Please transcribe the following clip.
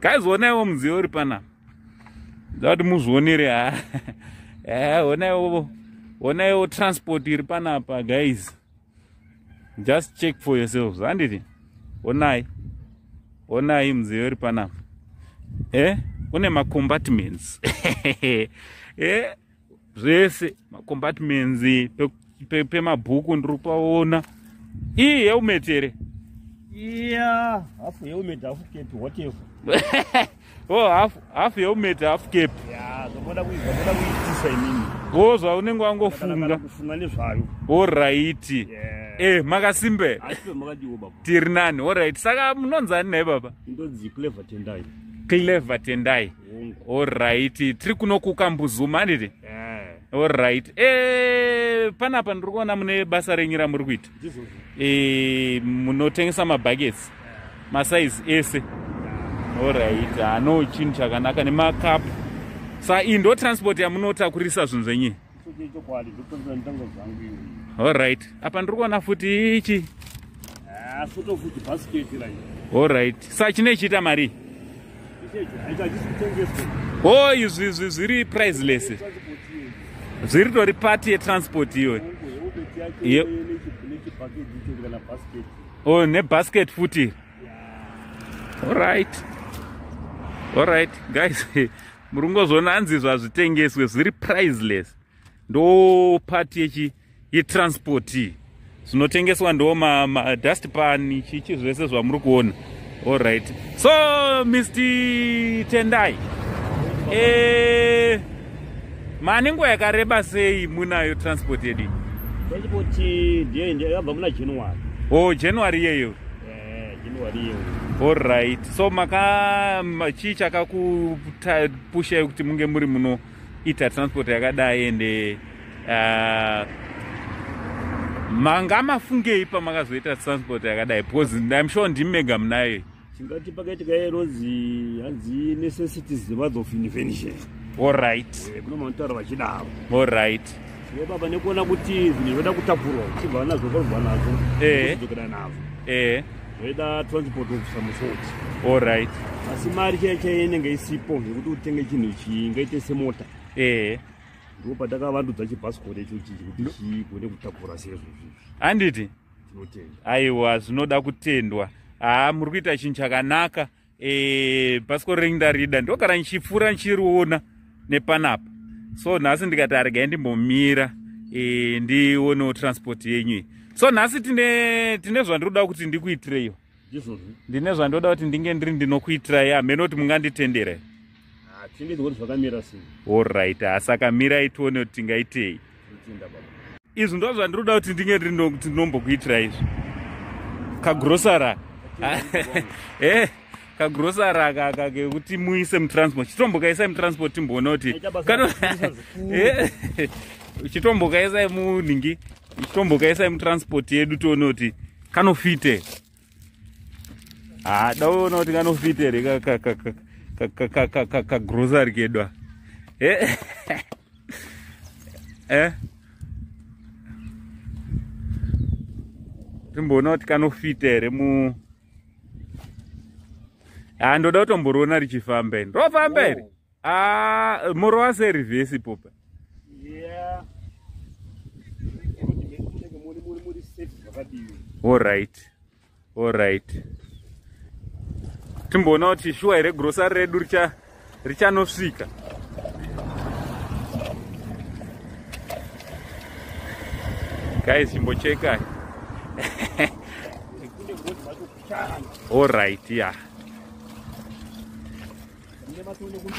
guys onaiwo mudziyo uri pana ndati muzvionere ha eh, onaiwo onaiwo transport iri panapa guys just check for yourselves handiti onai onai mudziyo iri panapa e eh, une macombatments e eh? zvese macompartments pemabhuku pe, pe ndiri kupaona iyi helmet here iya hafu helmet hafu kepi whatever oh hafu hafu helmet hafu kepi zvamoda kuizva moda kuitisa imini o zvaunenge wangofunga kufunga nezvayo orighti eh makasimbeka tiri nani orighti saka munonzani naye baba ndonzi clever tendai clever tendai Alright, tiri kuno kukambuzuma handiti? Eh. Alright. Eh, panapa ndiri kuona mune basa renyu ramuri kuita. Eh, munotengesa mabuckets. Masize ese. Alright, ano chinhu chakanaka nemakapu. Sa iyi ndo transport yamunotakurisa zvinhu zvenyu. Alright. Apa ndiri kuona futi ichi. Ah, futo futi basket la. Alright. Sa chine chita mari. Oh, izvi izvi zviri priceless. Zviri tori party ye transport iyo. Ye. Oh, ne basket futi. Alright. Alright, guys. muri kungozoona hanzi izvo hazvitengeswe zviri priceless ndo pati yechi yetransport iyi zvinotengeswa ndo madust pan chichi zvese zvamuri kuona allright so mr tendai e, mane nguva yakareba sei munayo transport yedu transport ndiyo yabva muna january o oh, january iyeyo Alright. So maka chii chakakupushai kuti munge muri muno ita transport yakadai ende uh, manga mafungei pamakazoita transport yakadai because im sure ndimi mega munayo tingati pakaitika yerozi hanzi necessities the mother of invention allright eh, kuno manotaura vachidaro allright Iwe baba nekuona kuti zvinhu zvoda kutakurwa uchibva nazvo korwa nazvo eh. uchidzokera nazvo eh. zvoida transport kubvisa musoti allright asi mari chaiye chaiye inenge isipo yekuti utenge chinhu chii ngaite semota eh. ndipo patakavandudza chibhasikoro icho chii kuti chigone kutakura seizvozvizvi handiti tinotenda aiwa zvinoda kutendwa haa muri kuita chinhu chakanaka eh, bhasikoro renyu ndarida ndogara ndichipfuura ndichiriona nepanapa so nhasi ndikati aregai ndimbomira e, ndionewo transport yenyu iyi so nhasi tine tine zvandiroda kuti ndikuitireiwo ndine zvandoda kuti ndinge ndiri ndinokuitirai hameno kuti munganditendere Ah, tinenge tione zvakamira sei orit asaka mirai tione kuti tingaitei izvi ndo zvandiroda kuti ndinge ndinombokuitira izvi kagrosara eh, kagrosara kaka kekuti muise mutransport chitombokaisai mutransport timboona kuti eh, chitombokaisai munhingi chitombokaisai mutransport yedu tione kuti kanofite haa daona kuti kanofita here kagrosary kedwa eh? eh? timboona kuti kanofita here mu haa ndoda kutomboriona richifamba ini rofamba here oh. Ah, moro wase reverse popa. Yeah. All right. All right. Timboona kuti shuwa here grocery redu richa richanosvika. Guys, chimbocheka. All right, yeah.